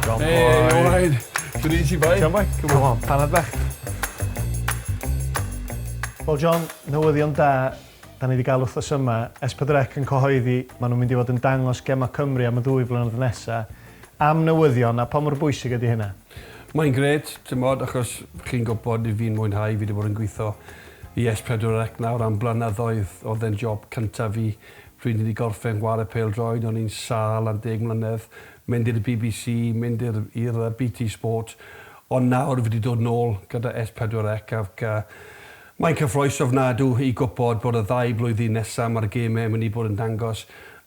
John Boy. Hey, all right. Good easy, boy. John Boy, come on, panad bach. Wel, John, newyddion da, da ni wedi cael wrthos yma. S4C yn cyhoeddi, maen nhw'n mynd i fod yn dangos gemau Cymru am y ddwy flynedd nesaf. Am newyddion, a pa mor bwysig ydy hynna? Mae'n gret, ti'n bod, achos chi'n gwybod i fi'n mwynhau, fi wedi bod yn gweithio i S4C nawr am blynyddoedd, oedd e'n job cyntaf fi. Pryd ni 'di gorffen gware pêl-droed o'n i'n sâl am deg mlynedd, mynd i'r bbc, mynd i'r i'r yy BT Sport, ond nawr fi 'di dod nôl gyda S pedwar Ec ac yy mae'n cyffrous ofnadw i gwpod bod y ddau blwyddyn nesa ma'r geme yn mynd i bod yn dangos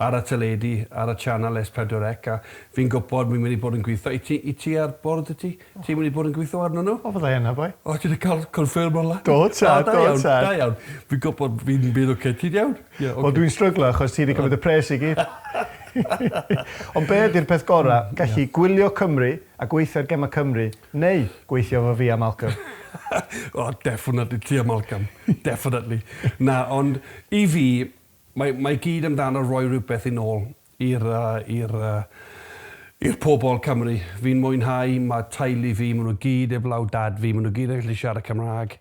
ar y teledu ar y channel S pedwar Ec a fi'n gwpod fi'n mynd i bod yn gwitho i ti i ti ar bwrdd i ti Ti'n mynd i bod yn gwitho arnyn nhw? O fyddai yna boi. O ti 'di ca'l confirm o lan? Do tad, do tad. O da iawn, da iawn. Fi'n gwbod fi'n bydd oce. Ti'n iawn? Ie oce. Wel dwi'n stryglo achos ti 'di cymryd y pres i gyd. Ond be' ydi'r peth gora'? Gallu gwylio Cymru a gweithio ar gema Cymru, neu gweithio efo fi a Malcolm? O definately ti a Malcolm. Definately. Na ond i fi mae mae gyd amdano roi rhywbeth yn ôl I'r, i'r, i'r pobl Cymru. Fi'n mwynhau, mae teulu fi, maen nhw gyd heblaw dad fi, maen nhw gyd yn gallu siarad Cymraeg.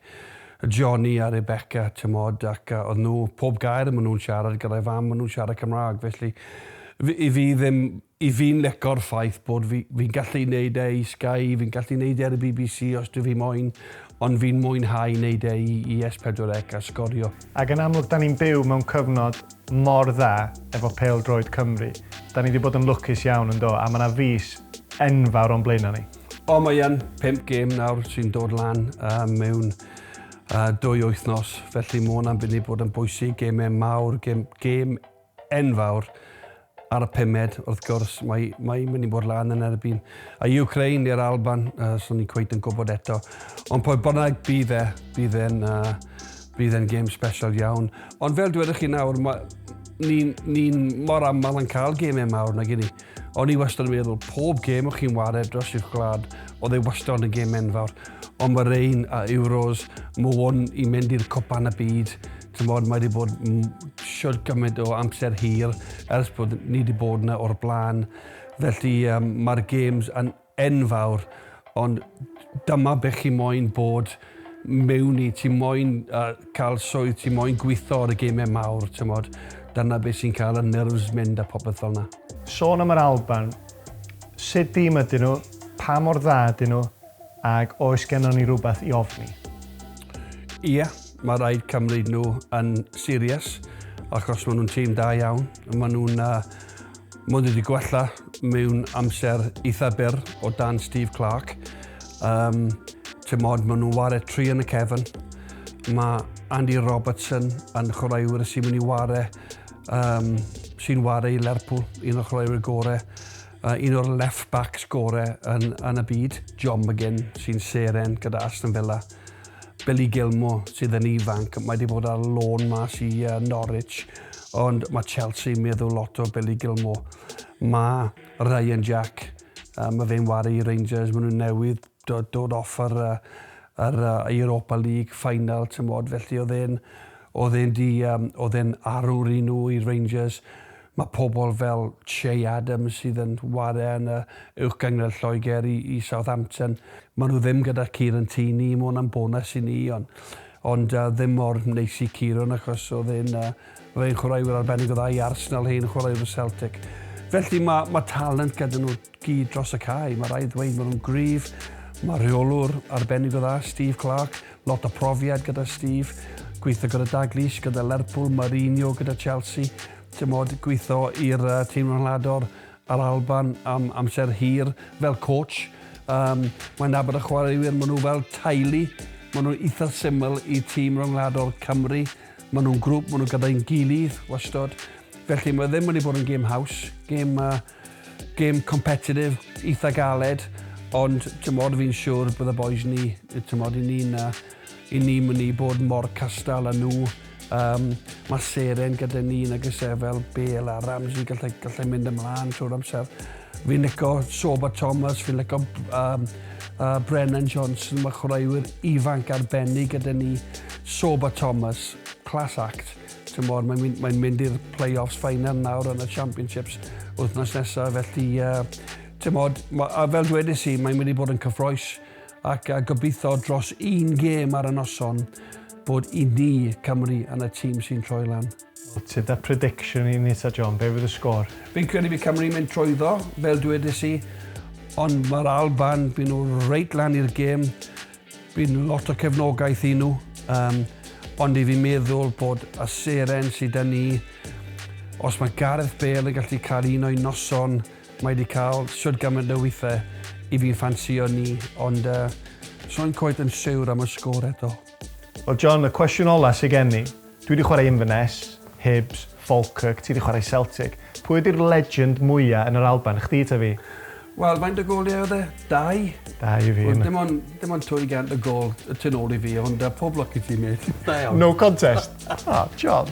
Johnny a Rebecca, timod, ac oedd nhw, pob gair maen nhw'n siarad gyda'i fam, maen nhw'n siarad Cymraeg, felly fi, i fi ddim, i fi'n lico'r ffaith bod fi, fi'n gallu wneud e i Sky, fi'n gallu wneud e ar y bbc os dwi fi moyn, ond fi'n mwynhau wneud e i, i S4C a sgorio. Ac yn amlwg, 'da ni'n byw mewn cyfnod mor dda efo pêl droed Cymru. Da ni 'di bod yn lwcus iawn yn do? A ma 'na fis enfawr o'n blaena ni. O mae yn pump gêm nawr sy'n dod lan yy mewn yy dwy wythnos felly ma' hwnna'n mynd i bod yn bwysig, gêmau mawr, gêm gêm enfawr Ar y pumed, wrth gwrs, mae, mae mynd i bod lan yn erbyn y Ukraine neu'r Alban, uh, so ni cweit yn gwybod eto. Ond pob bynnag, bydd e, bydd e'n, uh, bydd e'n game special iawn. Ond fel dweud chi nawr, mae, ni'n ni mor aml yn cael gemau mawr na gini. O'n i wastad yn meddwl, pob gem o'ch chi'n wario dros i'ch gwlad, oedd ei wastad yn gem enfawr. Ond mae'r ein a Euros, mae hwn i mynd i'r cwpan y byd, Chimod, mae wedi bod shwt gymaint o amser hir ers bod ni wedi bod yna o'r blaen. Felly um, mae'r games yn enfawr, ond dyma be chi moyn bod mewn i, ti moyn uh, cael swydd, ti moyn gweithio ar y gemau mawr, tymod. Dyna beth sy'n cael y nerves mynd a popeth fel yna. Sôn am yr Alban, sut dîm ydyn nhw, pa mor dda ydyn nhw, Ac oes gennon ni rywbeth i ofni? Ie, mae rhaid cymryd nhw yn serious achos maen nhw'n tîm da iawn. Maen nhw'n uh, mynd wedi gwella mewn amser eitha byr o dan Steve Clarke. Um, Tymod, maen nhw'n ware tri yn y cefn. Mae Andy Robertson yn chwaraewyr sy'n mynd i ware, um, sy'n ware i Lerpwl, un o'r chwaraewyr gorau. Yy un o'r left backs gore yn yn y byd, John McGinn sy'n seren gyda Aston Villa. Billy Gilmour sydd yn ifanc, mae 'di bod ar lôn mas i uh, Norwich, ond mae Chelsea meddwl lot o Billy Gilmour. Mae Ryan Jack, uh, mae fe'n waru i Rangers, maen nhw'n newydd Dod dod off yr yy yr yy Europa League final t'mod felly o'dd e'n o'dd e'n 'di yym o'dd e'n arwr i nhw i Rangers. Ma' pobol fel Che Adams sydd yn ware yn y Uwch Gyngred Lloegr i i Southampton. Ma' nhw ddim gyda Kieran Tierney, ma' hwnna'n bonws i ni on' ond yy ddim mor neis i Kieran achos o'dd e'n yy o'dd e'n chwaraewyr arbennig o dda i Arsenal, hen chwaraewr o Celtic. Felly ma' ma' talent gyda nhw. Gi dros y cae, mae rhaid ddweud maen nhw'n gryf, mae rheolwr arbennig o dda, Steve Clarke, lot o profiad gyda Steve, gweithio gyda Dalglish, gyda Lerpwl, Mourinho gyda Chelsea, tymod, gweithio i'r uh, tîm rhanador a'r Alban am amser hir fel coach. Um, mae'n nabod y chwaraewyr, maen nhw fel taili, maen nhw'n eitha syml i tîm rhwngwladol Cymru, maen nhw'n grŵp, maen nhw gyda'n gilydd, wastod. Felly mae ddim wedi bod yn gêm haws, gêm uh, Gêm competitive, eitha galed, ond t'mod fi'n siwr bydd y bois ni, t'mod i ni na, i ni myn i bod mor castal a nhw. Yym mae seren gyda ni nag oes e fel Bale a Ramsey gallai gallai mynd ymlaen trwy'r amser. Fi'n lico Sorba Thomas, fi'n lico um, uh, Brennan Johnson, mae chwaraewyr ifanc arbennig gyda ni. Sorba Thomas, class act. Timod, mae'n mynd, mae mynd i'r play-offs final nawr yn y Championships wythnos nesaf, felly, uh, timod, ma, a fel dwedais i, mae'n mynd i bod yn cyffroes ac a gobeithio dros un gêm ar y noson bod i ni Cymru yn y tîm sy'n troi lan. Ti'n da prediction i Nita John, be fydd y sgôr? Fi'n credu fi Cymru mynd trwy ddo, fel dwedais i, ond mae'r Alban, byd nhw reit lan i'r gêm, Bydd lot o cefnogaeth i nhw, um, ond i fi meddwl bod y seren sydd yn ni, os mae Gareth Bale yn gallu cael un o'i noson, mae wedi cael siwr gymaint o weithiau i fi'n ffansio ni, ond uh, so'n coet yn siwr am y sgôr eto. Wel John, y cwestiwn ola sydd gen i, Dwi wedi chwarae Inverness, Hibs, Falkirk, ti wedi chwarae Celtic. Pwy ydi'r legend mwya yn yr Alban, chdi ta fi? Wel, faint o goliau oedd e? Dau? Dau i fi. Wel, dim ond, dim ond 200 o gol y tu nôl i fi, ond uh, pob lwc i ti, mate. Da iawn. No contest. Ah, John.